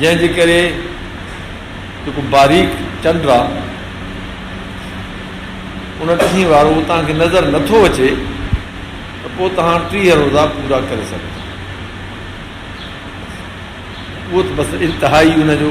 جنهن جي ڪري جيڪو باريڪ چنڊ آ ان ٽهين وارو توهان کي نظر نه ٿو اچي ته پوء توهان ٽيهه روزا پورا ڪري سگهو ٿا اهو ته بس انتهائي ان جو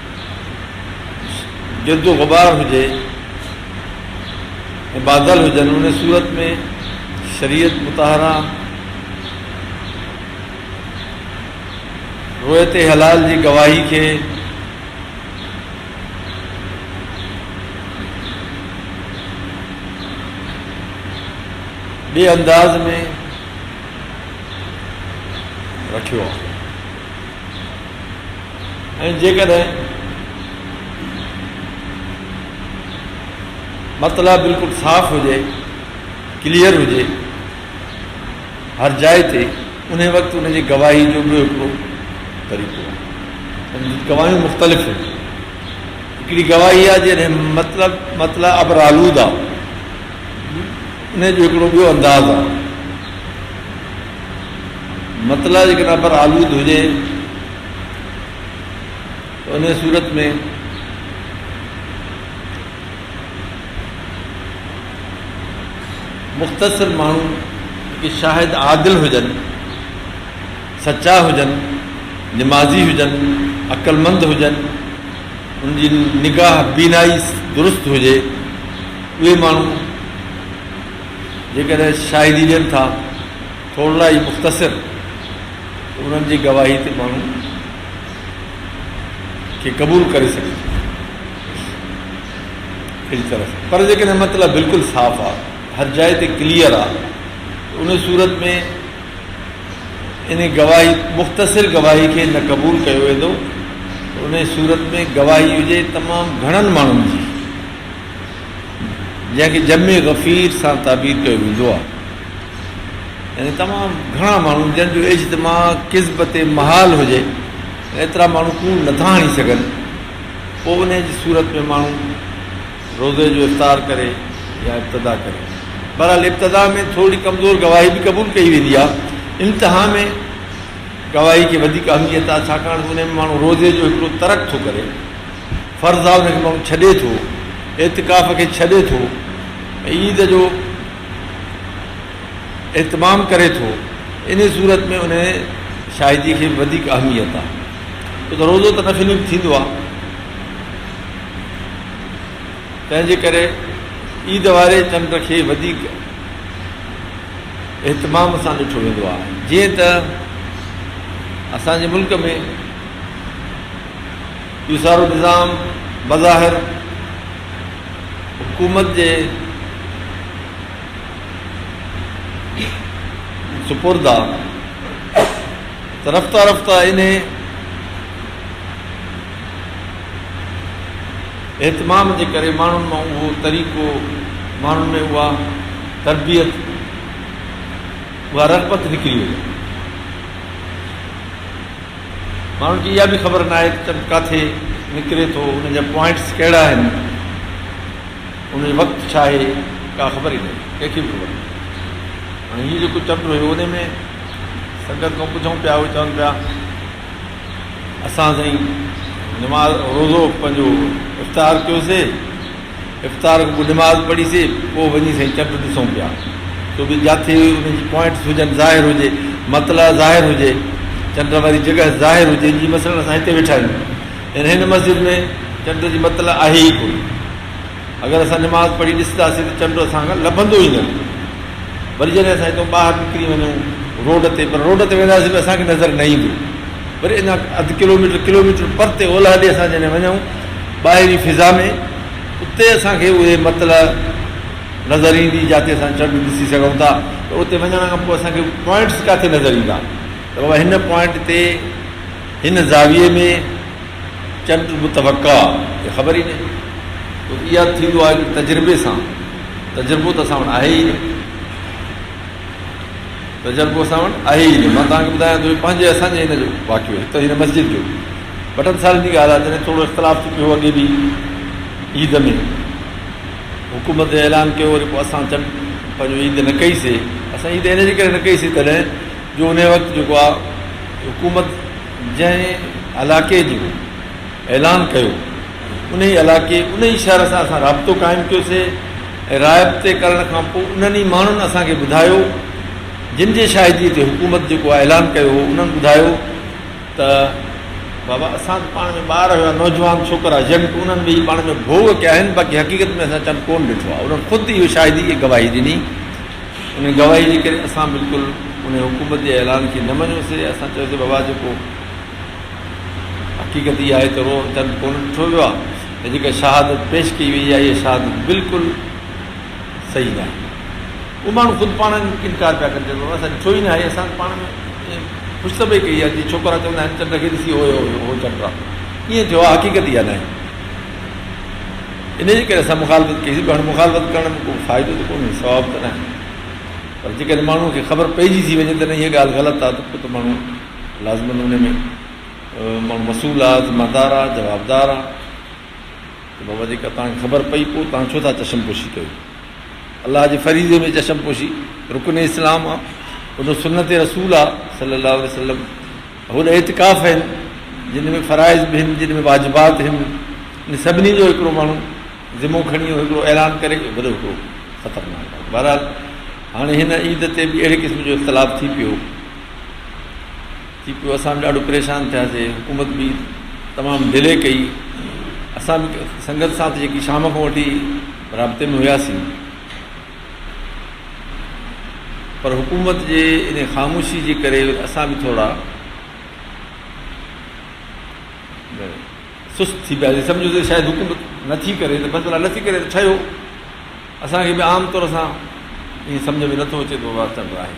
گرد و غبار هجي ۽ بادل هجن، ان صورت ۾ شريعت مطهره رويت حلال جي گواهي کي ٻئي انداز ۾ رکيو آهي. ۽ جيڪڏهن مطلع بلڪل صاف هجي، Clear، هجي هر جاء تي، انهي وقت ان جي گواهي جو ٻيو هڪڙو طريقو آهي. ان جون گواهيون مختلف هيون. هڪڙي گواهي آهي جڏهن مطلع مطلع ابرآلود آهي. انهي جو هڪڙو ٻيو انداز آهي. مطلع جيڪڏهن ابر آلود هجي ته انهيء صورت ۾ مختصر ماڻهو جيڪي شاهد عادل هجن سچا هجن نمازي هجن عقلمند هجن ان جي نگاهه بينائي درست هجي اهي ماڻهو جيڪڏهن شاهدي ڏين ٿا، ٿورڙا ئي مختصر، ته انهن جي گواهي تي ماڻهو کي قبول ڪري سگهجي ٿو. اهڙي طرح سان. پر جيڪڏهن مطلب بلڪل صاف آ، هر جاء تي ڪليئر آ، ته انهي صورت ۾ انهي گواهي، مختصر گواهي کي نه قبول ڪيو ويندو، ته انهي صورت ۾ گواهي هجي تمام گهڻن ماڻهن جي. جنهن کي جمع غفير سان تعبير ڪيو ويندو آهي يعني تمام گهڻا ماڻهو جن جو اجتماع قزب تي محال هجي ايترا ماڻهو ڪوڙ نٿا هڻي سگهن پوء ان جي صورت ۾ ماڻهو روزي جو افطار ڪري يا ابتدا ڪري بهرحال ابتدا ۾ ٿوري ڪمزور گواهي به قبول ڪئي ويندي آهي انتها ۾ گواهي کي وڌيڪ اهميت آهي ڇاڪاڻ ان ۾ ماڻهو روزي جو هڪڙو ترڪ ٿو ڪري فرضان کي ماڻهو ڇڏي ٿو، اعتڪاف کي ڇڏي ٿو ۽ عيد جو اهتمام ڪري ٿو، انهيء صورت ۾ انهيء شاهديء کي وڌيڪ اهميت آهي. ڇو ته روزو ته نفلي به ٿيندو آهي، تنهن جي ڪري عيد واري چنڊ کي وڌيڪ اهتمام سان ڏٺو ويندو آهي. جيئن ته اسان جي ملڪ ۾ اهو سارو نظام بظاهر حڪومت جي سپرد آ ته رفته رفته انهي اهتمام جي ڪري ماڻهن مان اهو طريقو ماڻهن ۾ اها تربيت اها رغبت نڪري وئي آ. ماڻهن کي اها به خبر ناهي ته چنڊ ڪاٿي نڪري ٿو، ان جا پوائنٽس ڪهڙا آهن، ان جو وقت ڇا آهي، ڪا خبر ئي ناهي، ڪنهن کي به خبر ناهي. هاڻي هيء جيڪو چنڊ هيو، انهيء ۾ سنگت کان پڇون پيا، اهي چون پيا، اسان سائين نماز روزو پنهنجو افطار ڪيوسي، افطار اڳ ٻڍ ماز پڙهي سي پوء وڃي سائين چنڊ ڏسون پيا سو به جاٿي ان جي پوائنٽس هجن ظاهر هجي مطلع ظاهر هجي چنڊ واري جڳهه ظاهر هجي جي مثلا اسان هتي ويٺا آهيون يعني هن مسجد ۾ چنڊ جي مطلع آهي ئي ڪونه اگر اسان نماز پڙهي ڏسنداسين ته چنڊ اسان کان لڀندو ئي نه وري جڏهن اسان هتو ٻاهر نڪري وڃون روڊ تي پر روڊ تي وينداسين به اسان کي نظر نه ايندو وري اڃا اڌ ڪلوميٽر ڪلوميٽر پرتي اولهه ڏي اسان جڏهن وڃون ٻاهرين فضا ۾ اتي اسان کي اهي مطلع نظر ايندي جاتي اسان چنڊ ڏسي سگهون ٿا پر اتي وڃڻ کان پوء اسان کي پوائنٽس ڪاٿي نظر ايندا ته بابا هن پوائنٽ تي هن زاويي ۾ چنڊ متوقع آهي خبر ئي نه تو اها ٿيندو آهي ته تجربي سان تجربو ته اسان وٽ آهي ئي نه ته جلڪو اسان وٽ آهي ئي نه. مان توهان کي ٻڌايان ٿو، هي پنهنجي ۽ اسان جي هن جو واقعو هڪ ته هن مسجد جو بٽن سارين جي ڳالهه آهي جڏهن ٿورو اختلاف ٿي پيو هو اڳي به عيد ۾ حڪومت اعلان ڪيو وري پوء اسان چنڊ پنهنجو عيد نه ڪئي سي اسان عيد ان جي ڪري نه ڪئي سي تڏهن جو انهي وقت جيڪو آهي حڪومت جنهن علاقي جو اعلان ڪيو انهي علائقي، انهي شهر سان اسان رابطو قائم ڪيوسي ۽ رابطي ڪرڻ کان پوء انهن ئي ماڻهن اسان کي ٻڌايو جن جي شاهدي تي حڪومت جيڪو اعلان ڪيو هو انهن ٻڌايو ته بابا اسان ته پاڻ ۾ ٻار هيا نوجوان ڇوڪرا يڪ انهن به ئي پاڻ ۾ ڀوڳ ڪيا آهن باقي حقيقت ۾ اسان چنڊ ڪون ڏٺو آهي انهن خود اهو شاهدي ۽ گواهي ڏني انهي گواهي جي ڪري اسان بلڪل انهي حڪومت جي اعلان کي نه مڃيوسي اسان چيوسي بابا جيڪو حقيقت اها آهي ته روحن چنڊ ڪونه ڏٺو ويو آهي ۽ جيڪا شهادت پيش ڪئي وئي آهي اها شهادت بلڪل صحيح ناهي. اهي ماڻهو خود پاڻ انڪار پيا ڪن چئن پيا اسان ڏٺو ئي ناهي اسان پاڻ ۾ ائين خوش ته پئي ڪئي آهي جيئن ڇوڪرا چوندا آهن چنڊ کي ڏسي هوء هوء هوء چنڊ آهي ائين ٿيو آهي حقيقت اها ناهي. انهيء ڪري اسان مخالفت ڪئي سي پر هاڻي مخالفت ڪرڻ ۾ ڪو فائدو ته ڪونهي ثواب ته ناهي پر جيڪڏهن ماڻهوء کي خبر پئجي ٿي وڃي ته نه هيء ڳالهه غلط آهي ته پوء ته ماڻهو لازمن انهي ۾ ماڻهو مسئول آ، ذمه دار آ، جوابدار آ ته بابا جيڪا توهان کي خبر پئي پوء توهان ڇو ٿا چشم پوشي ڪيو؟ الله جي فريضي ۾ چشم پوشي رڪن اسلام آ، اهو سنت رسول آ صلي الله عليه وسلم، هوڏ اعتڪاف هين جن ۾ فرائض به هين جن ۾ واجبات هين ان سڀني جو هڪڙو ماڻهو ذمو کڻي هڪڙو اعلان ڪري وڏو هڪڙو خطرناڪ آ. بهرحال هاڻي هن عيد تي به اهڙي قسم جو اختلاف ٿي پيو. ٿي پيو اسان به ڏاڍو پريشان ٿياسي حڪومت به تمام ڊلي ڪئي اسان به سنگت سان جيڪي شام کان وٺي رابطي ۾ هياسين پر حڪومت جي ان خاموشي جي ڪري اسان به ٿورا سست ٿي پياسي سمجھو ته شايد حڪومت نٿي ڪري ته بس بلا نٿي ڪري ته ٺهيو اسانکي به عام طور سان ائين سمجھ ۾ نٿو اچي ته بابا چل رها هي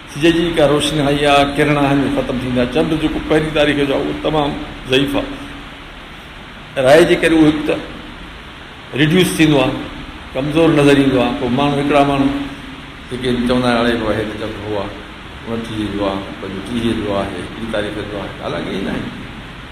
سج جي جيڪا روشني آئي آ ڪرڻ آهن اهي ختم ٿيندا چنڊ جيڪو پهرين تاريخ جو آ اهو تمام ضعيف آ رائي جي ڪري اهو هڪ ته ريڊيوس ٿيندو آ ڪمزور نظر ايندو آ پوء ماڻهو هڪڙا ماڻهو جيڪي چوندا آهن اڙي هو هي ته چنڊ هو آ انٽيهه جو آ پنجوٽيهه جو آهي ٽي تاريخ جو آهي حالانڪه ائين ناهي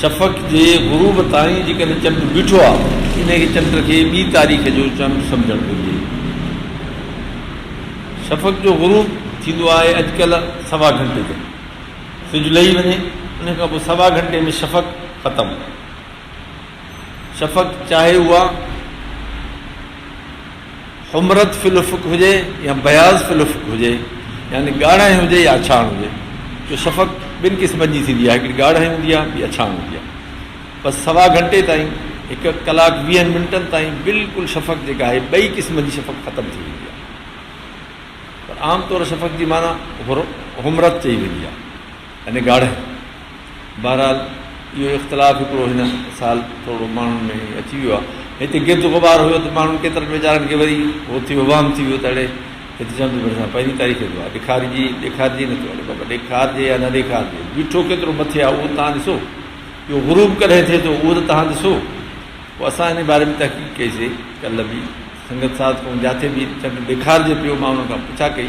شفق جي غروب تائين جيڪڏهن چمٽ بيٺو آهي ته انهيء کي چمٽ کي ٻي تاريخ جو چمٽ سمجهڻ گهرجي. شفق جو غروب ٿيندو آهي اڄ ڪلهه سوا گهنٽي تي. سج لهي وڃي انهيء کان پوء سوا گهنٽي ۾ شفق ختم. شفق چاهي اها. حمرت في الافق هجي يا بياض في الافق هجي يعني ڳاڙهائي هجي يا اڇاڻ هجي ڇو شفق ٻن قسمن جي ٿيندي آهي هڪڙي ڳاڙهائي هوندي آهي ٻي اڇاڻ هوندي آهي بس سوا گهنٽي تائين هڪ ڪلاڪ ويهن منٽن تائين بلڪل شفق جيڪا آهي ٻئي قسمن جي شفق ختم ٿي ويندي آهي پر عام طور شفق جي معنيٰ حمرت چئي ويندي آهي ۽ ڳاڙهي. بهرحال اهو اختلاف هڪڙو هن سال ٿورڙو ماڻهن ۾ هي اچي ويو آهي. هتي گرد غبار هيو ته ماڻهن ڪيترن ويچارن کي وري هو ٿيو وهم ٿي ويو ته اڙي هت چمبي ڀرسان پهرين تاريخ جو آهي ڏيکارجي ڏيکارجي نه ٿو اڙي بابا ڏيکارجي يا نه ڏيکارجي بيٺو ڪيترو مٿي آهي اهو تان ڏسو اهو غروب ڪڏهن ٿئي ٿو اهو ته تان ڏسو پوء اسان ان باري ۾ تحقيق ڪئي سي ڪلهه به سنگت ساز ڪون جاٿي به چنڊ ڏيکارجي پيو مان ان کان پڇا ڪئي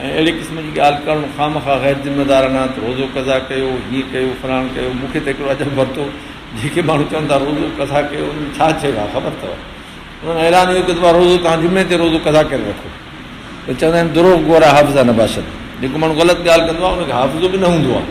۽ اهڙي قسم جي ڳالهه ڪرڻ خامخواه غير ذميوارانه ته روزو قضا ڪيو هيئن ڪيو فلاڻ ڪيو مون کي ته هڪڙو عجب ورتو جيڪي ماڻهو چون ٿا روزو قضا ڪيو ان ۾ ڇا چيو آهي خبر اٿو انهن اعلان اهو ڪيو ته روزو توهان جمعي تي روزو قضا ڪري رکو ته چوندا آهن دروغ گورا حافظا نباشد جيڪو ماڻهو غلط ڳالهه ڪندو آهي ان کي حافظو به نه هوندو آهي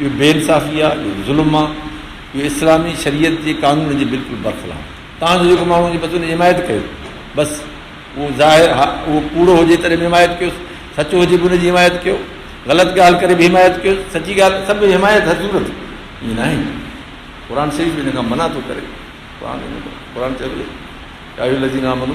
اهو بي انصافي آهي، اهو ظلم آهي، اهو اسلامي شريعت جي قانون جي بلڪل برخلاف آهي. تان جو جيڪو ماڻهو ان جي بچن جي حمايت ڪيو بس اهو ظاهر ها اهو ڪوڙو هجي تڏهن به حمايت ڪيوس، سچو هجي به ان جي حمايت ڪيو، غلط ڳالهه ڪري به حمايت ڪيوس، سچي ڳالهه سڀ حمايت هر صورت ائين ناهي قرآن شريف به ان کان منع ٿو ڪري قرآن قرآن چيو يا ايها الذين آمنو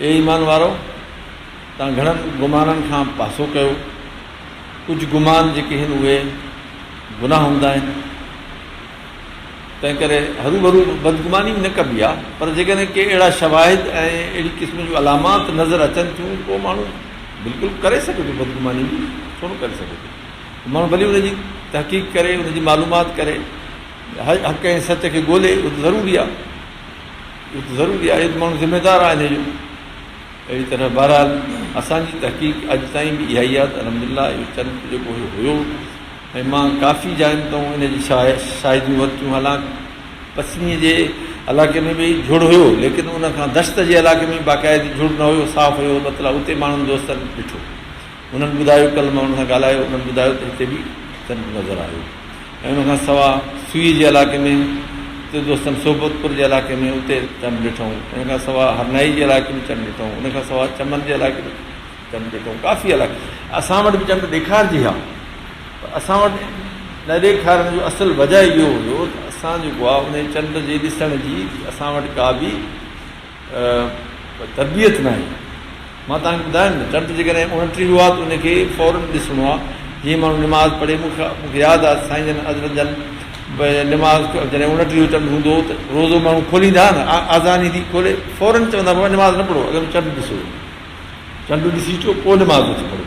اي ايمان وارؤ! توهان گهڻن گمانن کان پاسو ڪيو. ڪجهه گمان جيڪي هن اهي گناهه هوندا آهن. تنهنڪري هروڀرو بدگماني به نه ڪبي آهي. پر جيڪڏهن ڪي اهڙا شواهد ۽ اهڙي قسم جون علامات نظر اچن ٿيون ته پوء ماڻهو بلڪل ڪري سگهي ٿو بدگماني به ڇو نه ڪري سگهي ٿو. ماڻهو ڀلي ان جي تحقيق ڪري، ان جي معلومات ڪري، حق ۽ سچ کي ڳولي اهو ته ضروري آهي. اهو ته ضروري آهي ته ماڻهو ذميدار آهن اهي جو اهڙي طرح بهرحال اسان جي تحقيق اڄ تائين به اها ئي آهي ته الحمد لله اهو چرچ جيڪو اهو هيو ۽ مان ڪافي جاين تان ان جي شاهي شاهديون ورتيون حالانڪ پسنيء جي علاقي ۾ به جھڙ هيو ليڪن ان کان دشت جي علاقي ۾ باقاعدي جھڙ نه هيو صاف هيو مطلب اتي ماڻهن دوستن ڏٺو هنن ٻڌايو، ڪلهه ماڻهن سان ڳالهايو، انهن ٻڌايو ته هتي به چنڊ نظر آيو ۽ ان کان سواء سوئي جي علائقي ۾ اتي دوستن صحبت پور جي علائقي ۾ اتي چنڊ ڏٺائون، ان کان سواء هرنائي جي علائقي ۾ چنڊ ڏٺائون، ان کان سواء چمن جي علائقي ۾ چنڊ ڏٺائون، ڪافي علائقي اسان وٽ به چنڊ ڏيکارجي ها پر اسان وٽ نه ڏيکارڻ جو اصل وجهه اهو هيو ته اسان جيڪو آهي انهي چنڊ جي ڏسڻ جي اسان وٽ ڪا به اها تربيت ناهي. مان توهان کي ٻڌايم نه چرت جيڪڏهن اڻٽيهو آهي ته ان کي فورن ڏسڻو آهي جيئن ماڻهو نماز پڙهي مون کي مون کي ياد آهي ته سائين جن حضرت جن نماز جڏهن اڻٽيهو چنڊ هوندو هو ته روزو ماڻهو کوليندا هئا نه آذان ايندي کولي فورن چوندا هئا بابا نماز نه پڙهو اڳ ۾ چنڊ ڏسو چنڊ ڏسي اچو پوء نماز اچي پڙهو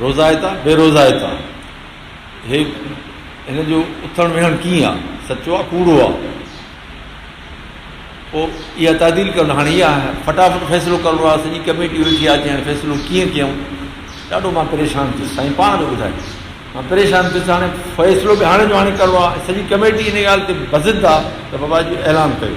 روزائتا بي روزائتا هي هن جو اٿڻ ويهڻ ڪيئن آ سچو آ ڪوڙو آ پو اها تعديل ڪرڻ هاڻي اها فٽافٽ فيصلو ڪرڻو آ سڄي ڪميٽي ويٺي آ جي فيصلو ڪيئن ڪيون ڏاڍو مان پريشان ٿيس سائين پاڻ به ٻڌائي مان پريشان ٿيس هاڻي فيصلو به هاڻي جو هاڻي ڪرڻو آ سڄي ڪميٽي ان ڳالهه تي بزد آ ته بابا جي اعلان ڪيو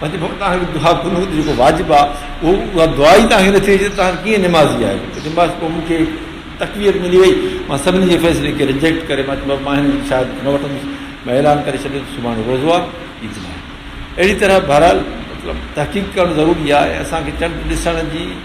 پنهنجي ماڻهن تان هڪ دعا ڪونه هوندي جيڪو واجب آهي اهو اها دعا ئي تان هي نه ٿي جو تان ڪيئن نمازي آهي تنهن بعد پوء مون کي تقويت ملي وئي مان سڀني جي فيصلي کي رجيڪٽ ڪري مان چيو مان هن جي شهادت نه وٺندس مان اعلان ڪري ڇڏيو ته سڀاڻي روزو آهي عيد ناهي اهڙي طرح بهرحال مطلب تحقيق ڪرڻ ضروري آهي ۽ اسان کي چنڊ ڏسڻ جي